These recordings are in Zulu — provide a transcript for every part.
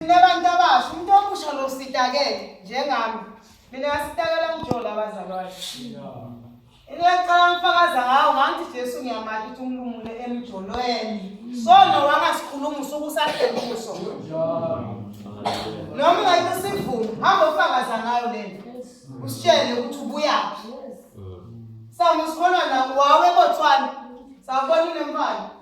Ninabantu abasha umuntu omusha lo sitakele njengami. Mina ngasitakela ngijola abazalwane. Ngiyacela ngifakaza ngawo ngangithi Jesu ngiyamali ukuthi umlumule emjolweni. Sono wangasikhuluma usuku sahlekuso. Noma ungayike sivume hamba ufakaza ngayo lento. Usitshele ukuthi ubuyaphi. Samusikhona na wawe botswana. Sawubona unemfana.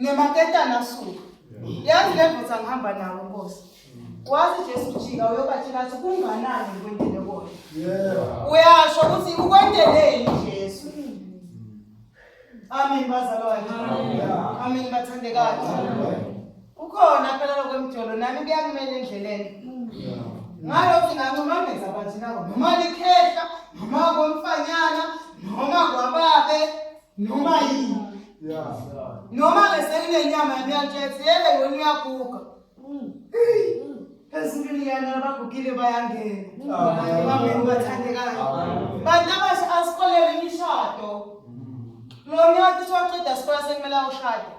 Ngemaketana suka. Yazi le ndoda ngihamba nawo Nkosi. Wazi Jesu jika uyobatshela ukuthi kunganani ukwendele kona. Yeah. Uyasho ukuthi ukwendeleni Jesu. Amen bazalwane. Amen bathandekazi. Ukhona phela lokwemjolo nami kuyakumele endleleni. Ngalo singancuma ngenza bathi nawo noma likhehla noma komfanyana noma kwababe noma yini noma ke sekunenyama yamiyaltshetsi yebe yona uyaguga ezulwini yana abagugile bayangena bangena bathandekayo bantu abasha asikolele imishado lo nyaka uthi waqeda sikole sekumele awushade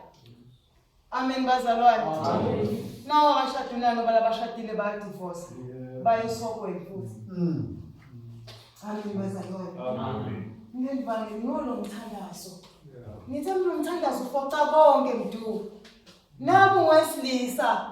Amen bazalwane. Amen. Nawo abashadile ngoba labashadile bayadivorce. Bayesokweni futhi. Mm. Amen bazalwane. Amen. Ngendibani ngolo mthandazo. Ngithe mina umthandazo ufoca konke mdu. Nabu wesilisa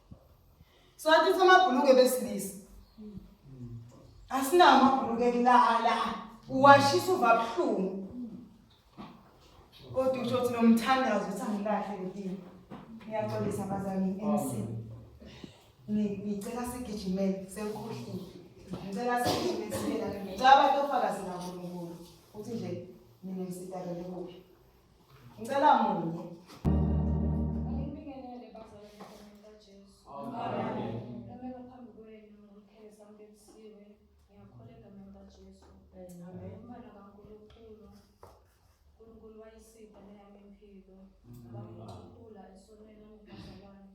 Sathi samabhuluke besilisa. Asinawo amabhuluke kulala. Uwashisa uva buhlungu. Kodwa usho ukuthi nomthandazo uthi angilahle ngidini. Ngiyaxolisa bazali MC. Ngicela sigijimele senkhohlile. Ngicela sigijimele sibela. Ngicela abantu ofakazi naNkulunkulu. Uthi nje mina ngisitakele kuphi. Ngicela munye. Angibingelele bazalwane egameni likaJesu. Amen. Ngamela phambi kwenu ngomkhele samkebisiwe. Ngiyakholwa egameni likaJesu. Amen. Umfana kaNkulunkulu. uNkulunkulu wayisida neyami impilo. Ngabakhula esonweni ongubazalwane.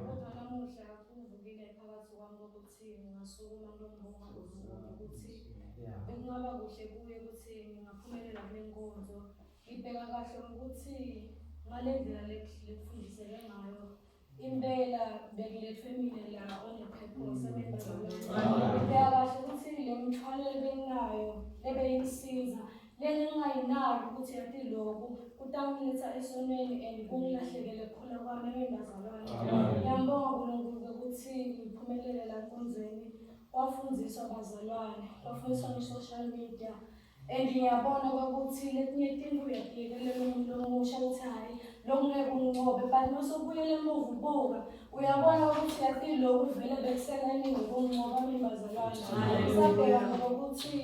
Kodwa namuhla kuvukile phakathi kwami kokuthi ngingasukuma ngiyombonga uZulu ukuthi bekungaba kuhle kuye ukuthi ngingaphumelela kule nkonzo Ngibheka kahle ukuthi ngale ndlela lekufundiseke ngayo impela bekulethwe mina la onephepho sebengibheka kahle ukuthi le mithwalo ebenginayo ebeyingisiza lena engingayinaki ukuthi yati lokhu kutangiletha esonweni and kungilahlekele khona kwami engingazalwane ngiyambonga unkulunkulu ukuthi ngiphumelele la nkonzweni kwafundiswa bazalwane kwafundiswa nge-social media And ngiyabona kwakuthi lekunye itimba uyabhikelela umuntu omusha ukuthi hhayi lokhu ngeke unqobe but mase ubuyela emuva ubuka uyabona ukuthi yathi lokhu vele bekusenaniwe ukunqoba imibazalwane sabhekana ngokuthi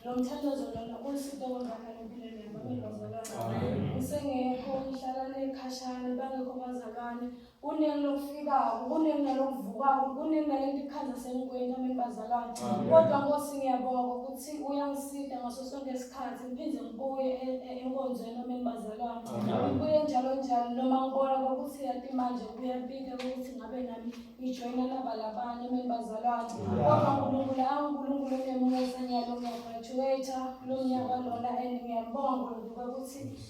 lo mthandazo lona ulisito konzakala empilweni yami amibazalwane usengekho ngihlala nekhashane bangekho bazalwane kuningi lokufikako kuningi nalokuvukako kuningi nalento ikhandla sengikweni nami bazalwane kodwa nkosi ngiyabonga ngokuthi uyangisida ngaso sonke isikhathi ngiphinde ngibuye e- e- enkonzweni nami bazalwane ngibuye njalo njalo noma ngibona kokuthi yati manje kuyapika ukuthi ngabe nami ngijoyina laba labanye nami bazalwane kodwa nkulunkulu awunkulunkulu onemusa ngiyalo ngiyagraduate kulo nyaka lona and ngiyabonga nkulunkulu ukuthi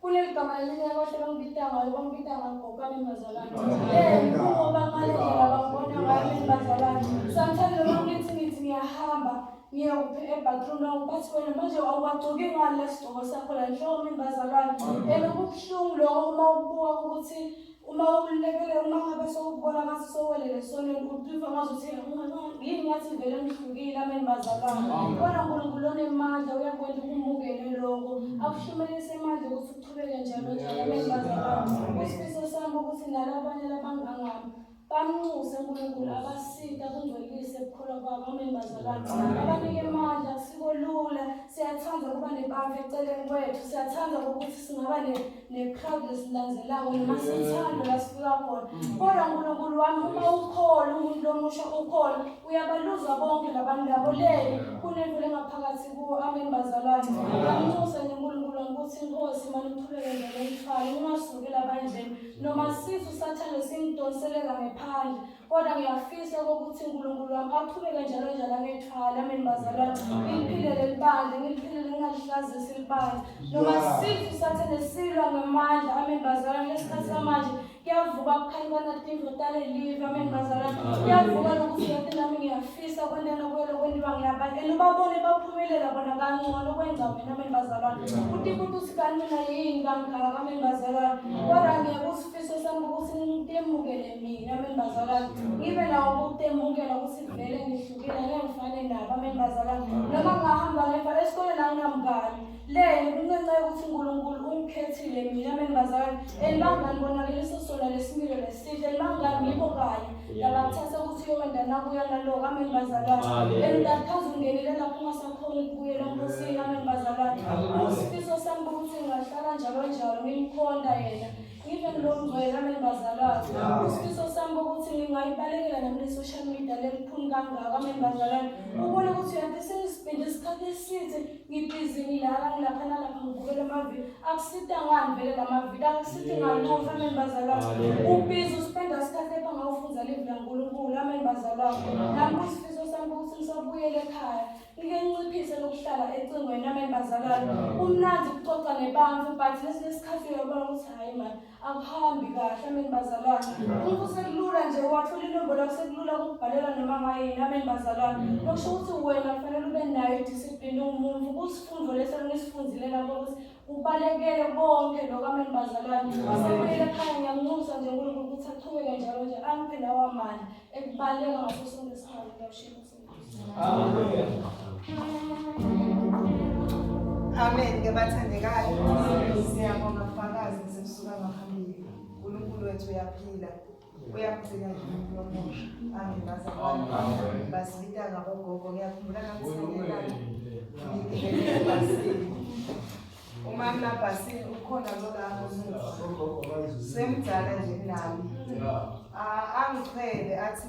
kuleli gama elinye abahle bangibita ngayo bangibita ngangigokane mazalane kubo bangalendlela bangibona ngayo mina bazalane sometimes noma ngithi ngithi ngiyahamba ngiyokuphi ebathroom lawo bathi wena manje awuwagcoki ngani lesigcoko sakho la nhloko mina bazalwane and okubuhlungu lokho uma ubuka ukuthi Uma ukhululekile uma ngabe sowubona ngathi sowelele esonweni uqifa ngathi uthi yini ngathi vele ngihlukile ameni bazalwane kodwa unkulunkulu onemandla uyakwenda ukumukele lokho akushumelise imandla ukuthi uqhubeke njalo njalo ameni bazalwane isifiso sami ukuthi nalo abanye labangangami bamnxuse unkulunkulu abasita kungcwelise ebukhulu kwabo ameni bazalwane abanike imandla kusiko lula siyathanda ukuba nebandla eceleni kwethu siyathanda ukuthi singaba necrowd lesilandzelako noma sithando lasifika khona kodwa nkulunkulu wami uma ukhona umuntu lomusha ukhona uyabaluzwa bonke labantu labo le kunevule ngaphakathi kuwo amen bazalwane amnxuse nje unkulunkulu wami ukuthi inkosi mane uqhubeke nje nomthwalo ungasukeli abandleni noma sisu sathane simdonsele kangephandle kodwa ngiyafisa okokuthi unkulunkulu wami aqhubeke njalo njalo angethwala ameni bazalwane ngiliphilele libandla ngiliphilele ngingalihlazisi libandla noma sifu sathane silwa ngamandla ameni bazalwane lesikhathi samanje kuyavuka kukhankana indodana elive ameni bazalwane kuyavuka lokuthi yonke nami ngiyafisa kwentana kuyelo kwendiwa ngiyabani and ubabone baphumelela bona kangcono kwenza mina ameni bazalwane uthi kuthi usikanina yini kangaka ameni bazalwane kodwa ngiyeke usifiso sami ukuthi ngimukele mina ameni bazalwane ngibe nawo ukutemukela ukuthi vele ngihlukile ngeke ngifane nabo ameni bazalwane noma ngingahamba ngefa esikoleni anginamngani leni kuncenceka ukuthi unkulunkulu ungikhethile mina ameni bazalwane and bangani bonakeliso sona lesimilo lesihle and bangani ngibo kanye labakuthatha ukuthi uyokwenza nakuya naloko ameni bazalwane and ndakhaza ungenile lapho ungasakhoni ukubuyela nkosini ameni bazalwane isifiso sami ukuthi ngingahlala njalo njalo ngimkhonda yena Ngive ngilomngcwele ameni bazalwane. Isifiso sami ukuthi ngingayibalekela nami le-social media lelikhulu kangaka ameni bazalwane. Ubone ukuthi uyade sengisipinde isikhathi eside ngibhizi ngilala ngilapha nalapha ngibukela amavidiyo. Akusita ngani vele la mavidiyo akusiti ngalutho ameni bazalwane. Ubhizi usipenda isikhathi epha ngawufundza livi laNkulunkulu ameni bazalwane. Nami kusifiso sami ukuthi ngisabuyele ekhaya. Ngike nginciphise lokuhlala ecingweni nami bazalwane. Kumnandi ukuxoxa nebantu but ngesinye isikhathi uyabona ukuthi hayi man akuhambi kahle ameni bazalwane. Umuntu sekulula nje wathola inombolo yakho sekulula ukubhalela noma ngayini ameni bazalwane. Lokusho ukuthi wena kufanele ube nayo idiscipline umuntu kusifundo leso ngisifundile lapho ukuthi ubalekele konke lokho ameni bazalwane. Asemele ekhaya ngiyamunxusa nje uNkulunkulu ukuthi aqhubeke njalo nje angiphe lawa mali ekubaleka ngaso sonke isikhathi ngiyawushiya. Amen ke bathandekayo. Siyabonga kufakazi sekusuka ngaphambili. uNkulunkulu wethu uyaphila. Uyamgcina nje umuntu omusha. Amen bazalwane. Amen. Basibita ngabogogo ngiyakhumbula ngamsengela. Umama labhasini ukhona lo lapho musa. Semdala nje kunami. Ah, Angichele athi